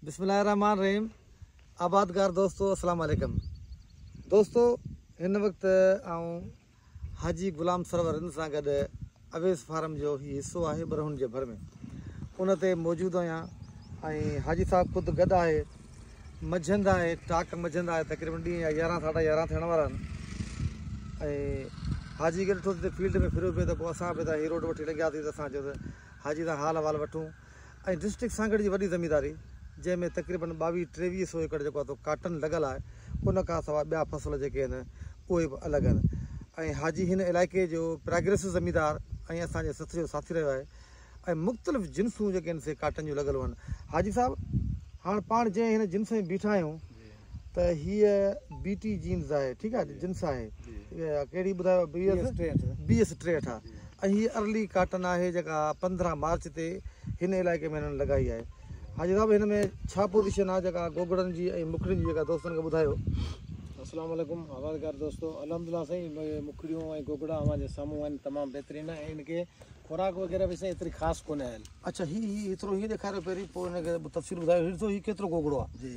بسم الله الرحمٰن الرحيم آبادگار دوستو السلام عليڪم دوستو هن وقت آئون حاجي غلام سرور ان سان گڏ اويس فارم جو هي حصو آهي برهن جي ڀر ۾ ان تي موجود آهيان ۽ حاجي صاحب خود گڏ آهي مجھند آهي ٽاڪ مجھند آهي تقريبن ڏينهن جا يارهن ساڍا يارهن ٿيڻ وارا آهن ۽ حاجي کي ڏٺو فيلڊ ۾ ڦريو پيو ته پوء اسان به هي روڊ وٺي لنگهياسي ته اسان چيو ته حاجي تان حال احوال وٺون ۽ ڊسٽرڪٽ سانگهڙ جي وڏي زمينداري جنهن ۾ تقريبن ٻاويهه ٽيويهه سو ايڪڙ جيڪو اٿو ڪاٽن لڳل آهي ان کان سواء ٻيا فصل جيڪي آهن اهي به الڳ آهن ۽ حاجي هن علائقي جو پراگريسو زميندار ۽ اسان جي سٿ جو ساٿي رهيو آهي ۽ مختلف جنسون جيڪي آهن سي ڪاٽن جون لڳل هئن حاجي صاحب هاڻ پاڻ جنهن هن جنس ۾ بيٺا آهيون ته هيء بي ٽي جينز آهي ٺيڪ آهي جنس آهي ڪهڙي ٻڌايو بي ايس بي ايس ٽيهٺ آهي ۽ هيء ارلي ڪاٽن آهي جيڪا پندرهن مارچ تي هن علائقي ۾ هنن لڳائي آهي حاجي صاحب هن ۾ ڇا پوزيشن آهي جيڪا گوگڙن جي ۽ مکڙين جي جيڪا دوستن کي ٻڌايو السلام عليڪم آبادگار دوستو الحمد لله سائين مکڙيون ۽ گوگڙا اوهان جي سامهون آهن تمام بهترين آهن ان کي خوراڪ وغيره به سائين ايتري خاص ڪونه آهن اچھا هي هي ايترو هي ڏيکاريو پهرين پوء ان کي تفصيل ٻڌايو هي ڏسو هي ڪيترو گوگڙو آهي جي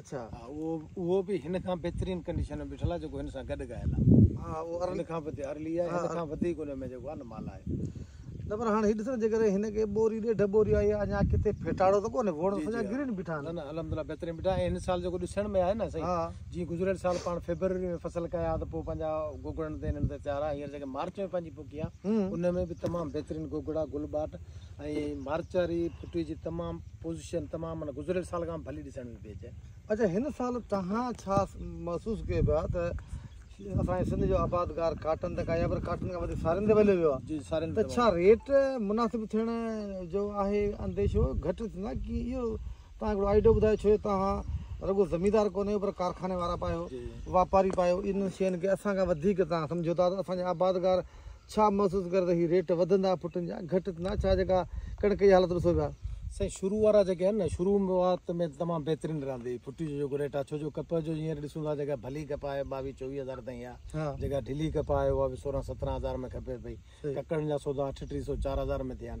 اڇا ها اهو به هن کان بهترين ڪنڊيشن ۾ بيٺل آهي جيڪو هن سان گڏ ڳايل آهي ها اهو ارلي کان به ارلي آهي هن کان وڌيڪ ان ۾ جيڪو آهي نه مال آهي نه پر هاڻي هي ڏسو جي ڪري هن کي ٻوري ڏيڍ ٻوري آئي آهي اڃا ڪٿي ڦيٽاڙو ته ڪونهي ووڻ سڄا گرين بيٺا آهن نه نه الحمدلله بهترين بيٺا آهن هن سال جيڪو ڏسڻ ۾ آهي نه سائين جي گذريل سال پاڻ فيبروري ۾ فصل ڪيا ته پوء پنهنجا گوگڙن تي انهن تي تيار آهي هينئر جيڪي مارچ ۾ پنهنجي پوکي آهي ان ۾ به تمام بهترين گوگڙا گل ٻاٽ ۽ مارچ واري ڦٽي جي تمام پوزيشن تمام معنيٰ گذريل سال کان به ڀلي ڏسڻ ۾ پئي اچي. اچا هن سال توهان ڇا محسوس ڪيو پيا ته اسان جي سنڌ جو آبادگار ڪاٽن تي ڪا يا وري ڪاٽن کان وڌيڪ سارين تي وليو ويو آهي ته ڇا ريٽ مناسب ٿيڻ جو آهي انديشو گهٽ ٿيندا ڪي اهو توهان هڪڙو آئيڊيو ٻڌايو ڇو جو توهان رڳو زميندار ڪونه آهيو پر ڪارخاني وارا به آهيو واپاري به آهيو انهن شين کي اسان کان وڌيڪ توهان سمجهو ٿا ته اسان جي آبادگار ڇا محسوس ڪري ته هي ريٽ وڌندا پٽن جا گهٽ ٿيندا ڇا جيڪا ڪڻڪ جي حالت ڏسو پيا. سائين شروع وارا جيڪي آهن نه شروع وات ۾ تمام بهترين رهندي پٽي جو جيڪو ريٽ آهي ڇو جو ڪپهه جو هينئر ڏسون ٿا جيڪا ڀلي ڪپهه آهي ٻاويهه چوويهه هزار تائين آهي جيڪا ڍلي ڪپهه آهي اها به سورهن سترهن هزار ۾ کپي پئي ڪڪڙن جا سودا اٺ ٽي سو چار هزار ۾ ٿيا آهن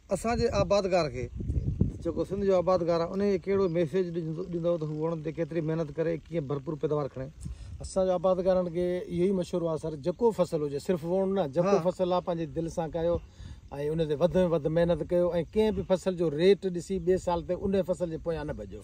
اسان جي آبادگار کي جيڪو سنڌ جو آبادگار آهي انهيء ڪهڙو ميسيج ڏيندؤ ته هو وڻن تي ڪيتري محنت ڪري ۽ ڪيئن ڀرپور پيداوار کڻي؟ اسان جي آبادگارن کي اهو ئي مشورو آهي سر جيڪو فصل هجي صرف وڻ نه جيڪو فصل آهي پنهنجي دل سان ڪاهيو ۽ ان تي وڌ ۾ وڌ محنت ڪيو ۽ ڪنهن به فصل جو ريٽ ڏسي ٻئي سال تي انهيء فصل جي پويان نه ڀڄو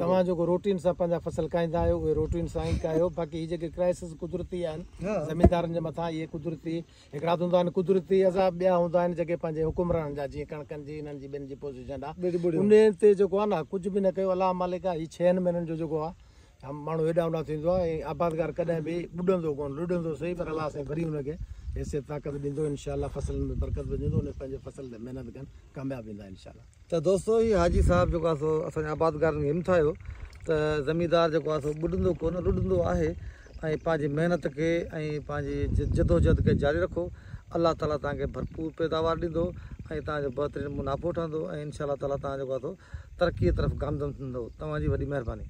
توهان جيڪو روٽين سان پنهنجا فصل ڪاهيندا آهيو اهي روٽين سان ئي ڪاهيو باقي هي جيڪي ڪرائسز قدرتي آهن زميندارن جي مٿان اهي قدرتي هڪڙا هوندا آهن قدرتي عذاب ٻيا هوندا آهن جيڪي پنهنجي حڪمرانن جا جيئن ڪڻڪن جي انهن جي ٻين جي پوزيشن ڏا انهن تي جيڪو آهي نه ڪجهه به نه ڪيو الله مالڪ آهي هي ڇهن مهينن جو جيڪو آهي ماڻهو هيڏانهن هوڏانهن ٿيندو آهي ۽ آبادگار ڪڏهن به ٻڏندو ڪونه لڏندو سهي پر الله سائين وري ان کي حيثيت طاقت ڏيندو انشاء الله فصلن ۾ برڪت وجهندو ان پنهنجي فصل تي محنت ڪن ڪامياب ويندا انشاء الله. ته دوستو هي حاجي صاحب جيڪو آهي سو اسان جي آبادگارن کي همٿايو ته زميندار جيڪو آهي سو ٻڏندو ڪونه لڏندو آهي ۽ پنهنجي محنت کي ۽ پنهنجي جدوجهد کي جاري رکو الله تعالي توهان کي ڀرپور پيداوار ڏيندو ۽ توهان جو بهترين منافعو ٺهندو ۽ انشاء الله تعالي توهان جيڪو آهي سو ترقي طرف گامزن ٿيندو توهان جي وڏي مهرباني.